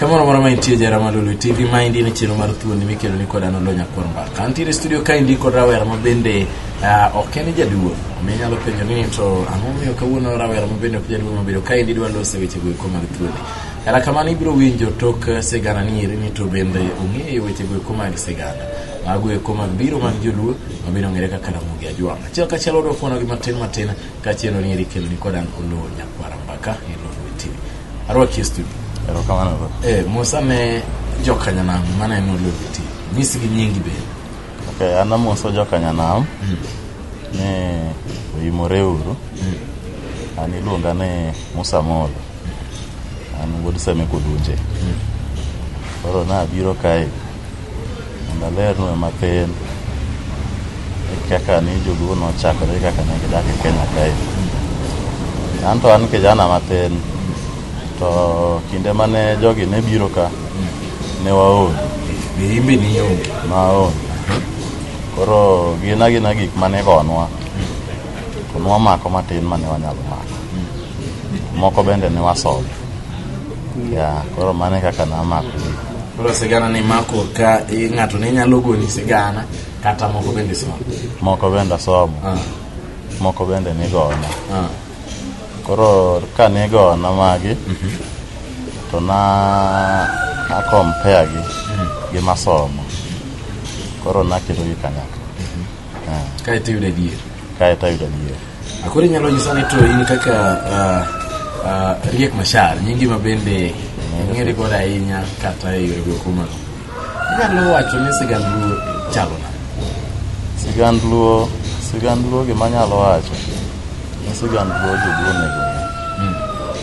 Kamoro moro ma intie jara ma Lulu TV ma indi ne chiro mar thuondi mikelo ni koda nolo nyakwar mbaka. Antiere studio ka indi kod rawera ma bende uh, ok en jaduo. Mi inyalo penjo ni to ang'o miyo kawuono rawera ma bende ok jaduo ma bedo ka indi dwa lose weche go eko mag thuondi. Erokamano ibiro winjo tok eh, sigana ni eri ni to bende ong'eyo weche go eko mag sigana. Mago eko mag biro mag joluo ma bende ong'ere kaka Ramogi Ajwang'. Achiel kachiel odwa fuono gi matin matin kachielo ni eri kelo ni kodan Oloo Nyakwara Mbaka e Lolwe TV. Arwaki e studio. Erokamano. Eh, Musa ne jokanyanam maneno Lolwe TV. Nyisgi nyingi bende. Okay, an amoso joka nyanam ni oyimore uru an iluonga ni musa molo an wuod seme kudunje koro nabiro kae mondo alernue mathin kaka ni joluo nochakore kaka ne gidak e kenya kae an to an kijana mathin To kinde mane jogi ne biro ka, ne waonge. Be in be nionge? Naonge. Koro gin agina gik mane igonwa, to nwamako matin mane wanyalo mako. Moko bende ne wasomo. Ya, koro mano e kaka namako gik. Koro sigana ni mako ka eh, ng'ato ne nyalo goni sigana kata moko bende somo. Moko bende asomo, Ah, moko bende nigona. ah. koro ka ne gona magi to na na compare gi gi masomo koro naketo gi kanyakla Eh, kae to iyudo adier kae to ayudo adier akoro inyalo nyisa ni to in kaka ah, ah, riek mashar nyingi ma bende ong'ere godo ahinya kata e yore go kumano Inyalo wacho ni sigand Luo chalo nade? Sigand Luo, sigand Luo gima anyalo wacho ni sigand Luo joluo onego ong'e.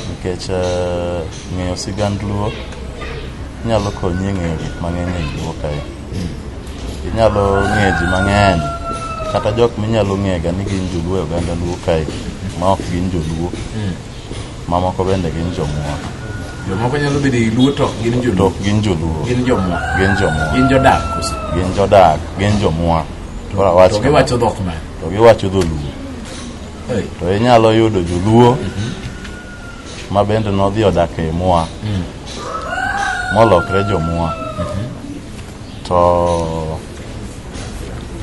Nikech eh, ng'eyo sigand Luo nyalo konyi e ng'eyo gik mang'eny e Luo kae. Inyalo ng'eyo ji mang'eny kata jok minyalo ng'ega ni gin joluo e oganda Luo kae ma ok gin joluo. Mamoko bende gin jomwa. Jomoko nyalo bedo i Luo to ok gin joluo. To ok gin joluo. Gin jomwa. Gin jomwa. Gin jodak koso. Gin jodak, gin jomwa. Koro awach To giwacho dhok ma. To giwacho dholuo. Hey. To inyalo yudo joluo mm -hmm. ma bende nodhi odak e mwa. Mm. Molokre jomwa. Mm -hmm. to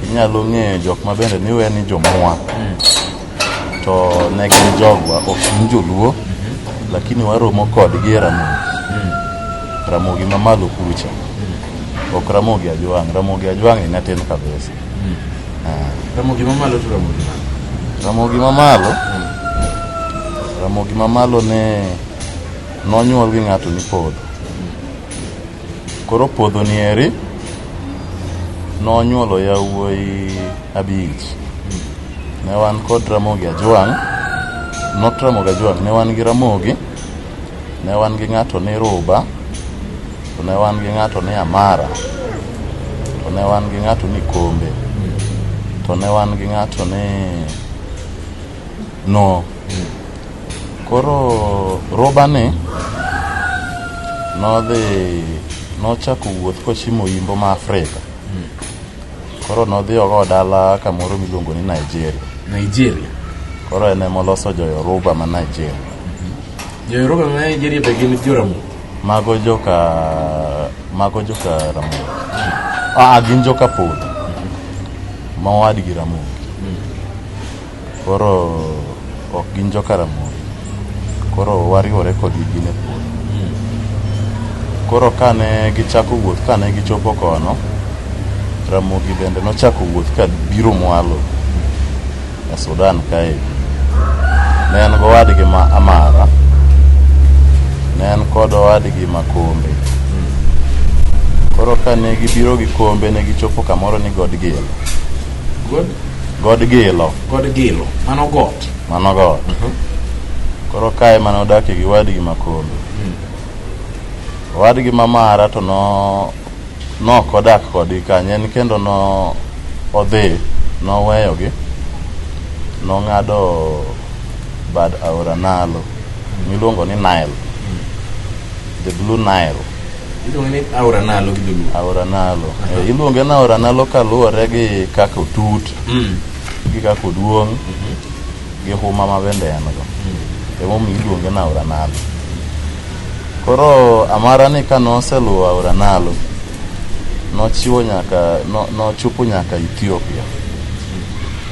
inyalo ng'eyo jok ma bende niwe ni jomwa to ne gin jogwa ok gin joluo lakini waromo kodgi e ramogi ramogi mamalo kucha ok ramogi ajwang' ramogi ajwang' e nyatin kabisa Ah, Ramogi mamalo to ramogi malo. ramogi mamalo ramogi mamalo ne nonyuol gi ng'ato ni podho Koro puodho ni eri nonyuolo yawuoyi abich. Ne wan kod Ramogi Ajwang', not Ramogi Ajwang', ne wan gi Ramogi, ne wan gi ng'ato ni Ruba, to ne wan gi ng'ato ni Amara, to ne wan gi ng'ato ni Kombe, to ne wan gi ng'ato ni No. Koro robani nodhi nochako wuoth kochimo yimbo ma Afrika. Koro nodhi ogo dala kamoro miluongo ni Nigeria. Nigeria. Koro en ema oloso joyoruba ma Nigeria. Joyoruba ma Nigeria be gin joramogi? Mago joka mago joka ramogi. Ah, gin joka podho. Ma owadgi ramogi. Koro ok gin jo Karamoja. Koro wariwore kodgi gin e puodho. Koro kane gichako wuoth, kane gichopo kono, Ramogi bende nochako wuoth ka biro mwalo e Sudan kae. Ne en gowadgi ma Amara, ne en kod owadgi ma Kombe. Koro kane gibiro gi Kombe ne gichopo kamoro ni Godgil. God? God Gilo. God Gilo. Mano got. Mano got. Uh mhm. -huh. Koro kae mane odakie gi wadgi Makondo. Mm. Wadgi Mamara to no nok odak kodgi kanyo en kendo no odhi noweyogi nong'ado bad aora Nalo miluongo ni Nile. Mm. The Blue Nile. Iluonge ni aora nalo gi dholuo. Aora nalo. Eh, Iluonge ni aora nalo kaluwore gi kaka otut, Mm. gi kaka oduong', gi huma ma bende en go. Emomiyo iluonge ni aora nalo. Koro amara ni ka noseluwo aora nalo, nochiwo nyaka, no- nochopo nyaka Ethiopia.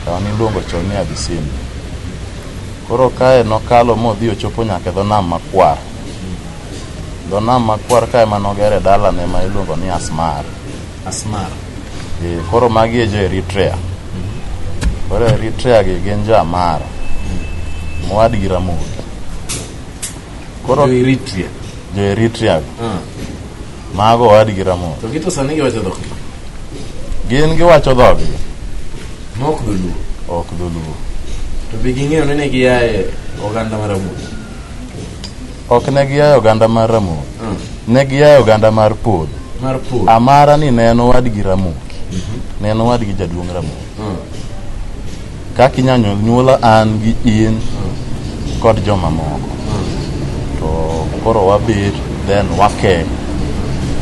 Kama niluongo chon ni Abyssinia. Koro kae nokalo modhi ochopo nyaka e dho nam makwar. Dho nam makwar ka ema nogere dalane ma iluongo ni Asmar. Asmar. Eh, koro magi e jo Eritrea. Koro Eritrea gi gin jo Amara. Moad gi Ramogi. Koro Jo Eritrea. jo Eritrea gi. Ah. Mago oad gi Ramogi. To gito sani giwacho dhok. Gin giwacho dhogi. Mok dholuo. Ok dholuo. To be ging'eyo ni ne giaye oganda mar Ramogi. Ok ne giayo oganda mar Ramogi. Mm. Ne giayo oganda mar Podho. Mar Podho. Amara ni ne en owadgi Ramogi. Mm -hmm. Ne en owadgi jaduong' Ramogi. Mm. Kaka inyanyo nyuola an gi in mm. kod joma moko. Mm. To koro wabet then wake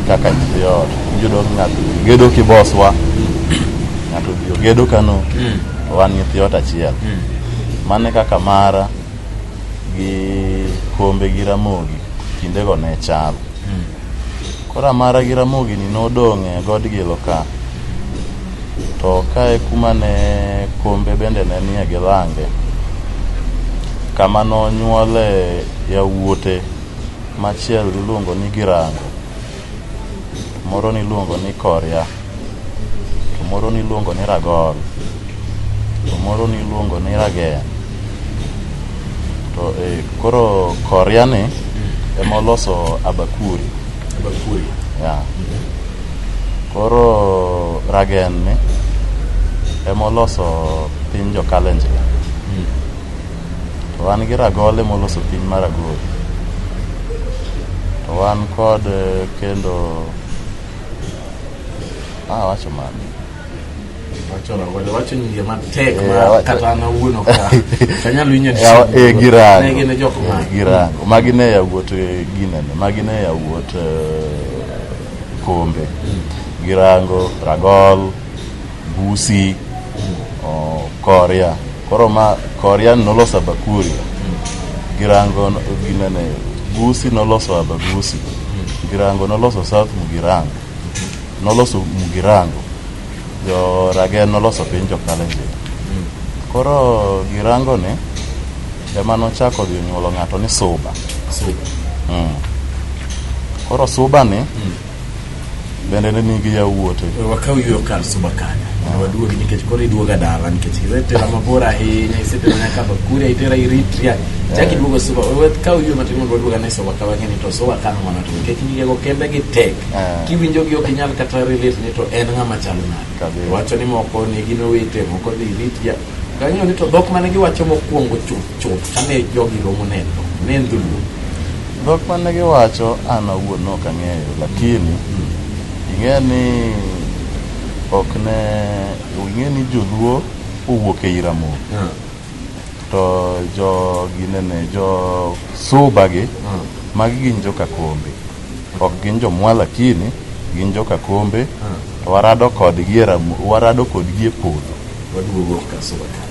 kaka nyithi ot. Yudo ng'ato gedo kiboswa. Ng'ato gedo kano. Mm. Wan nyithi ot achiel. Mm. Mane kaka mara. gi Kombe gi Ramogi kindego ne chal. Hmm. Koro Amara gi Ramogi ni nodong' e god Gilo ka. To ka e kuma ne Kombe bende ne nie gi Lange. Kama nonyuole yawuote machiel iluongo ni Girango. moro niluongo ni korya to moro niluongo ni ragol to moro niluongo ni ragen to e, koro korya ni ema oloso abakuri Bakuri. ya koro ragen ni ema oloso piny jokalenjin To wan gi ragole moloso piny mar Agori. To wan kod eh, kendo ah, wacho mani Wacho ragole, wacho nyinge matek Eh, ma wacho- kata an awuon ok a- ok anyal winjo ni- Ya- eh, girango. Ne gin jok ma- Eh, girango magi ne yawuot eh, ginene magi ne yawuot eh, kombe girango ragol Busi, oh, Korea. Koro ma Korea noloso Abakuria. Girango no- ginene Busi noloso Abagusi. Girango noloso South Mugirango. Noloso Mugirango. Jo Ragen noloso piny jo Kalenjin. Koro Girango ni ema nochako dhi nyuolo ng'ato ni Suba. Mm. Koro Suba ni Bende ne nigi yawuote. We wakaw yweyo kar Subakanya mondo waduogi nikech koro iduoga dala nikech isetera mabor ahinya isetera nyaka Bakuri itera Eritrea chak iduogo Suba we wakaw yweyo matin mondo waduoga ne Subakanya wang'eni to Subakanya mana to nikech nyigego kembe gi tek Ah. kiwinjogi ok inyal kata relate ni to en ng'ama chalo nade Kabisa. wacho ni moko ne gin owete moko dhi Eritrea kang'eyo ni to dhok mane giwacho mokwongo chuth chuth kane jogi romo neno ne en dholuo dhok mane giwacho an awuon ne ok ang'eyo lakini ing'e ni ok ne ing'e ni joluo owuok e iramo to jo ginene jo suba gi magi gin jokakombe ok gin jomwa lakini gin jokakombe to warado kodgi e ramo warado kodgi e podho waduogo kasuba ka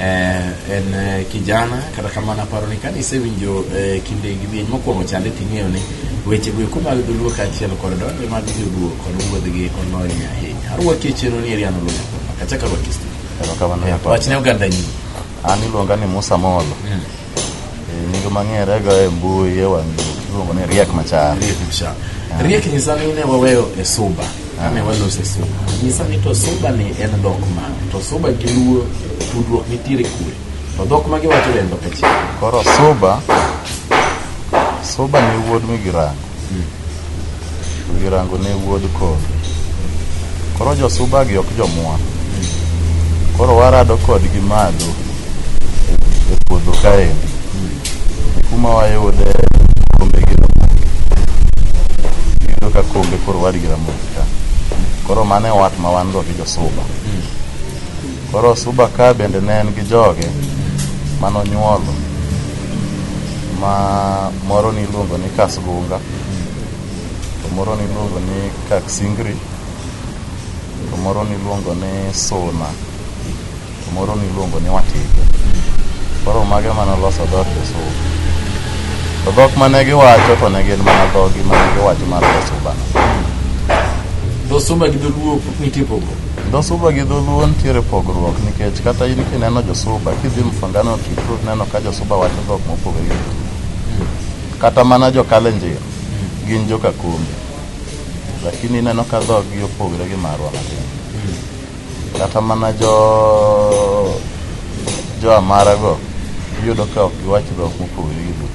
eh, en eh, kijana kata kamano aparo ni kane isewinjo eh, kinde gi bieny mokwongo chande ting'eyo ni weche go eko mag dholuo kaachiel kod donge mag joluo kod wuodhgi olony ahinya arwaki e chenro ni eriano lunya kachaka rwaki stu Erokamano nyakocha. wachne oganda nyinyi An iluonga ni Musa Molo. nyinge mang'ere go e mbui e wang' iluongo ni riek machar riek machar riek nyisa ni ne waweyo e suba kane walose suba nyisa ni to suba ni en dhok mane to suba gi luo tudruok nitiere kure to dhok ma giwacho be en dhok achiel koro suba suba ni wuod migirango Odhi rango ne wuod kor. Koro josuba gi ok jomwa. Koro warado kodgi malo e puodho kaendi. Kuma wayude kombe gi ramogi. Iyudo ka kombe koro wadi gi ramogi ka. Koro mano e wat ma wan go gi josuba. Koro suba ka bende ne en gi joge manonyuolo ma moro niluongo ni Kasgunga. to moro niluongo ni Kaksingri, to moro niluongo ni Suna, to moro niluongo ni Watike. Koro mage mane oloso dhood Josuba. To dhok mane giwacho to ne gin mana dhogi mane giwacho mar Josuba. Dhosumba gi dholuo nitie pogo. Josuba gi dholuo nitiere pogruok nikech kata in kineno Josuba kidhi Mfangano Kitru neno ka Josuba wacho dhok mopogore gi dholuo. Kata mana jo Kalenjin gin jo Kakumbi, lakini ineno ka dhoggi opogre gi marwa matin. Kata mana jo jo Amara go iyudo ka ok giwach dhok mopogre gi dhok.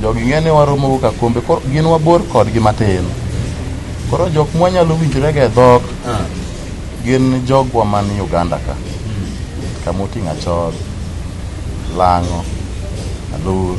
Jogi ng'e ni waromo go Kakumbi, koro gin wabor kodgi matin. Koro jok mwanyalo winjrega e dhok gin jogwa man Uganda ka kama oting'o Achol, Lang'o, Alur,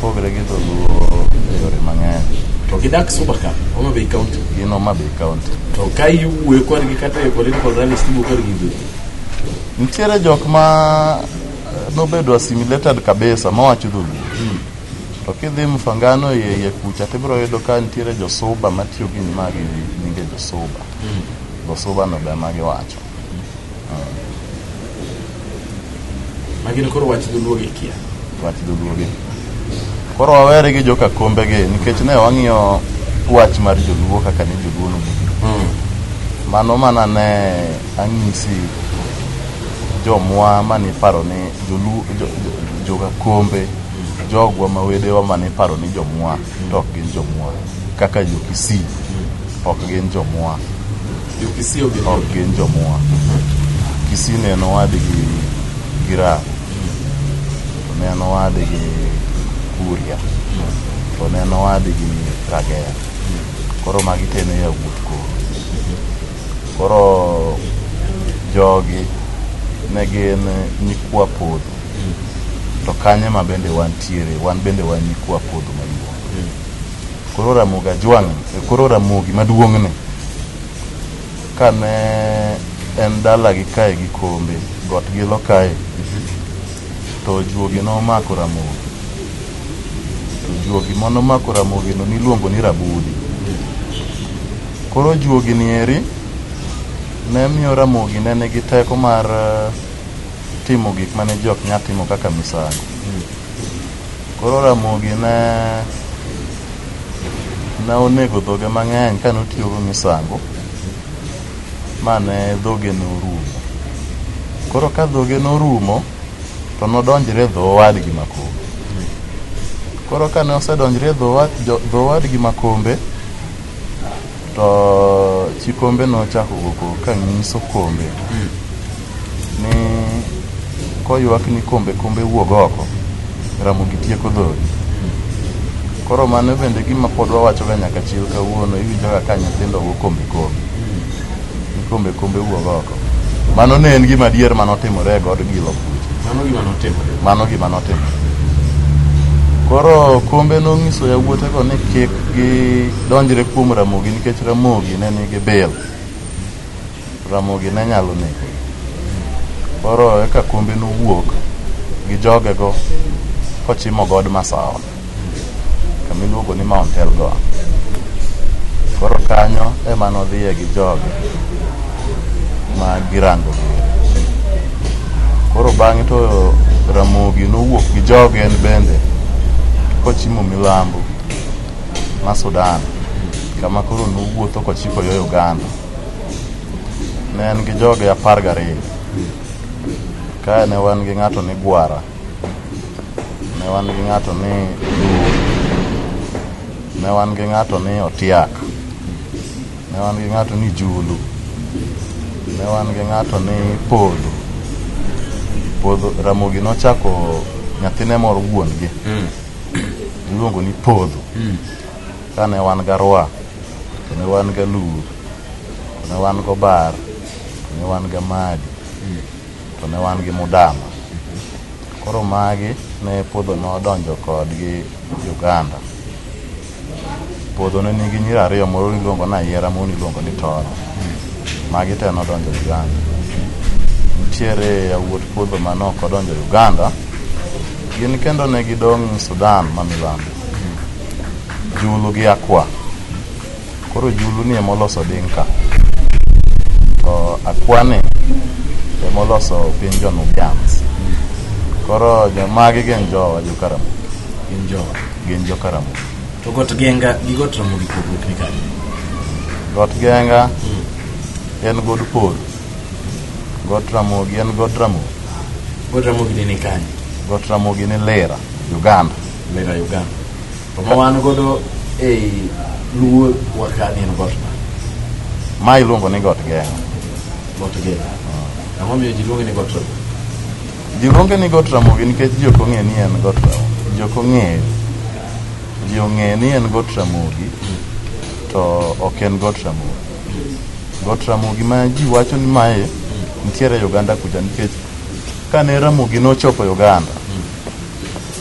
Opogre gi dholuo e yore mang'eny. To gidak Suba ka, Homa Bay County. Gin Homa Bay County. To ka iwuoyo kodgi kata e political rallies tiwuoyo kodgi gi Nitiere jok ma eh, nobedo assimilated kabisa mawacho dholuo. Hmm. To kidhi Mfangano iye iye kucha tibiro yudo ka nitiere josuba matiyo gi magi nyinge josuba. Hmm. Josuba no be ema giwacho. Magino koro wach dholuo gi kia. Wach dholuo gi. Koro wawere gi joka kombe gi nikech ne wang'iyo wach mar joluo kaka ni joluo no mm. mano mana ne ang'isi jomwa mane iparo ni joluo joka kombe jogwa ma wedewa mane iparo ni jomwa to ok gin jomwa kaka jokisii ok gin jomwa Jokisii ok gin jomua. Kisii ne en owadgi gi Raha, to ne en owadgi Kuria, to ne en owadgi Ragera. Koro magi te ne yawuot koro. Koro jogi ne gin nyikwa podho, to kanye ma bende wantiere, wan bende wan nyikwa podho maduong'. Koro Ramogi Ajwang' e koro Ramogi maduong'ni kane en dalagi kae gi kombe got gilo kae to juogi nomako Ramogi to juogi manomako Ramogino niluongo ni Rabudi koro juogi ni eri ne miyo Ramogi ne nigi teko mar eh, timo gik mane jok nya timo kaka misango Koro Ramogi ne ne onego dhoge mang'eny ka notiyogo misango ma ne dhoge norumo. Koro ka dhoge norumo to nodonjre dho owadgi Makombe. Koro ka ne osedonjre dho owadgi Makombe to chi Kombe nochako wuok ka nyiso Kombe. ni koywak ni kombe kombe wuog oko ramogi tieko dhodi koro mano bende gima pod wawachoga nyaka chil kawuono iwinjoga ka nyithindo go kombe kombe ni kombe kombe wuog oko mano ne en gima adier mane otimore e god gilo kucha Mano gima notimore. mano gima notimore koro kombe nonyiso yawuotego ni kik gidonjre kuom ramogi nikech ramogi ne nigi bil Ramogi ne nyalo negogi. Koro eka kombe nowuok gi jogego kochimo god Masawa kama iluongo ni Mount Elgon. Koro kanyo ema nodhiye gi joge ma girango gire. Koro bang'e to Ramogi nowuok gi joge en bende kochimo milambo ma Sudan kama koro nowuotho kochiko yo Uganda. ne en gi joge apar gariyo kae ne wan gi ng'ato ni gwara ne wan gi ng'ato ni ne wan gi ng'ato ni otiak ne wan gi ng'ato ni julu ne wan gi ng'ato ni podho podho ramogi nochako nyathine moro wuon gi hmm. iluongo ni podho hmm. kane wan garwa to ne wan ga lur to ne wan go bar to ne wan ga madi to ne wan gi mudama koro magi ne puodho ne odonjo kodgi uganda puodho ne nigi nyiri ariyo moro niluongo ni ayiera moro niluongo ni toro magi te nodonjo uganda nitiere yawuot puodho ma ne ok odonjo uganda gin kendo ne gidong' sudan ma milambo Julu gi Akwa. Koro Julu ni emoloso Dinka. To Akwa ni emoloso piny jo Nubians. Koro jo magi gin jowa jo Karamogi. Gin jowa. Gin jo Karamogi. To got genga gi got ramogi pogruok ni kanye? Got Genga en god Pol. Got Ramogi en god Ramogi. Got ramogi ni ni kanye? Got Ramogi ni Lira, Uganda. Lera Uganda. To ma wan godo ei luo wakani en got ma. Ma iluongo ni got geng'. Got geng'. Ah. Ang'o miyo ji luonge ni got ramogi? Ji luonge ni got ramogi nikech ji ok ong'e ni en got ramogi. Ji ok ong'eyo. Ji ong'e ni en got ramogi to ok en got ramogi. Got ramogi ma ji wacho ni mae nitiere Uganda kucha nikech kane ramogi nochopo Uganda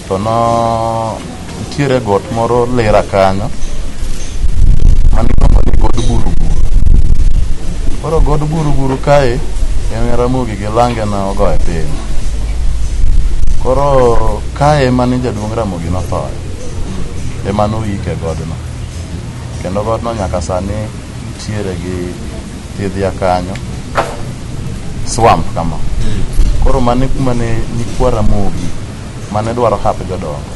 To no nitiere got moro lera kanyo mani iluongo ni god buruburu. Koro god buruburu kae en Ramogi gi lange na ogoye piny. Koro kae ema ni jaduong' Ramogi nothoe. Ema noyike godno. Kendo godno nyaka sani nitiere gi thiedh ya kanyo swamp kama koro mane kuma ne nyikwa ramogi mane dwaro hap jodongo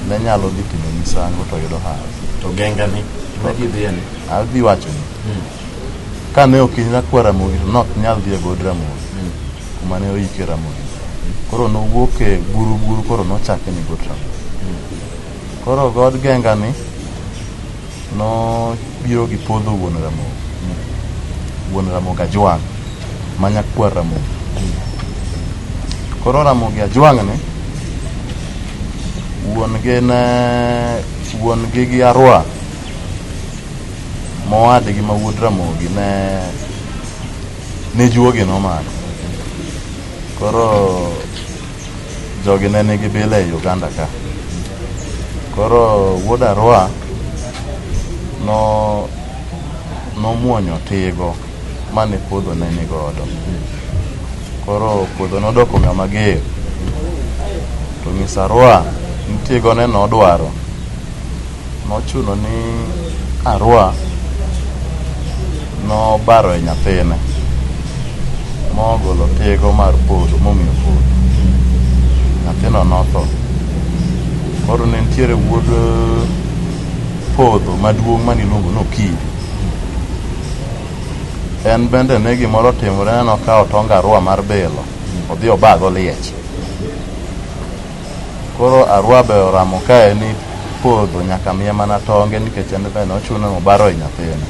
ne nyalo dhi timo misango to yudo hap to genga ni ne gidhiye ni adhi wacho ni ka ne ok inya kwa ramogi to nok nyal dhi e god ramogi kuma ne oike ramogi koro nowuok e buru buru koro nochake ni god ramogi koro god genga ni Nobiro gi podho wuon Ramogi, wuon Ramogi Ajwang' ma nyakwar Ramogi. Koro Ramogi Ajwang' ni wuon gi ne wuon gi gi Arwa mowadgi ma wuod Ramogi ne ne juogi nomako. Koro Jogi ne nigi bila e Uganda ka. Koro wuod Arua no nomuonyo tigo mane puodho ne ni godo. Koro puodho nodoko ng'ama ger. To nyis Arua ni tigo ne nodwaro Nochuno ni Arua nobaro e nyathine mogolo tego mar polo momiyo polo. Nyathino notho. Koro ne nitiere wuod podho maduong' mane iluongo ni Okinyi. En bende ne gimoro otimore nokawo tong Arua mar bilo odhi obago liech. Koro arwa be oramo kae ni podho nyaka miye mana tonge nikech en be nochuno nobaro e nyathine.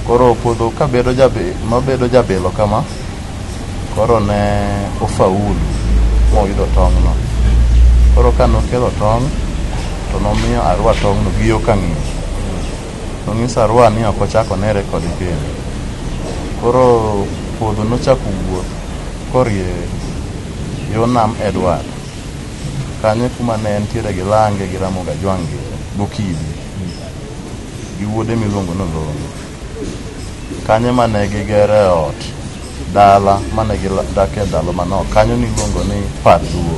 Koro podho ka bedo jabe- nobedo jabilo kama, koro ne ofaulu moyudo tong'no. Koro ka nokelo tong' to nomiyo Arua tong'no gi yo kang'ich. Nonyiso Arua ni ok ochak onere kode kendo. Koro podho nochako wuoth korie Yo nam Edward, kanyo e kuma ne entiere gi Lange gi Ramogi Ajwang' gi Gokibi gi wuode miluongo ni Olongo. Kanyo ema ne gigere ot, dala mane gidakie ndalo manok. Kanyo niluongo ni Par Duo.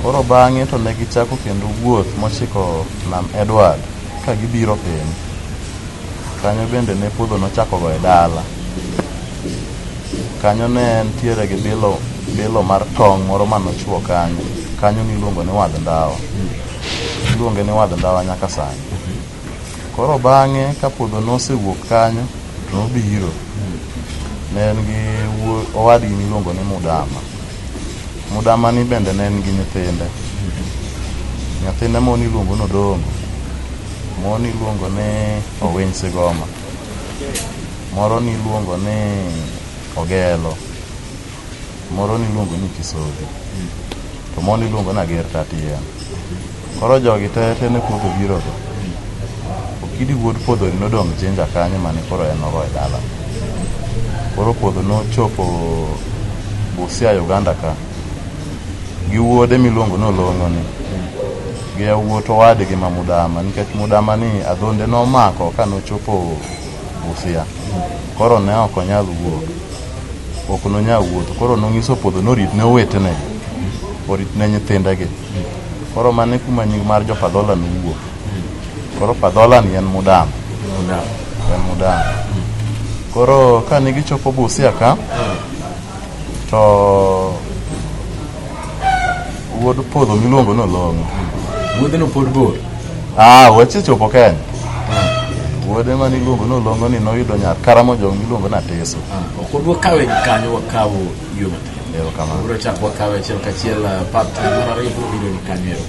Koro bang'e to ne gichako kendo wuoth mochiko nam Edward ka gibiro piny. Kanyo bende ne podho nochako goye dala. Kanyo ne entiere gi bilo, bilo mar tong' moro mane ochwo kanyo. Kanyo niluongo ni wadh ndawa. Iluonge ni wadh ndawa nyaka sani. Koro bang'e ka puodho nosewuok kanyo, to nobiro. Ne en gi wuo- owadgi niluongo ni Mudama. Mudama ni bende ne en gi nyithinde. Nyathine moro niluongo ni Odongo. Moro niluongo ni Owiny Sigoma. moro niluongo ni Ogelo, moro niluongo ni Kisodhi, to moro niluongo ni Ager Tatian. Koro jogi te te ne podho birogo. Okidi wuod podhoni nodong' Jinja kanyo mane koro en ogo e dala. Koro podho nochopo Busia Uganda ka. gi wuode miluongo ni Olong'oni gi yawuot owadgi ma Mudama nikech Mudama ni adhonde nomako ka nochopo Busia koro ne ok onyal wuok ok nonyal wuotho koro nong'iso podho norit ne owetene orit ne nyithindegi koro mane kuma nying mar jo Padhola nowuok koro Padhola ni en Mudama en Mudama koro kane gichopo Busia ka to wuod podho miluongo ni olong'o wuodheno pod bor ah wasechopo kenya wuode ma niluongo ni olong'o ni noyudo nyar karamo jong miluongo ni ateso ok wadwa kawe gi kanyo wakawo yo matin erokamano wabiro chako wakawe achiel kachiel ah, part mar ariyo biro bedo ni kanyo ero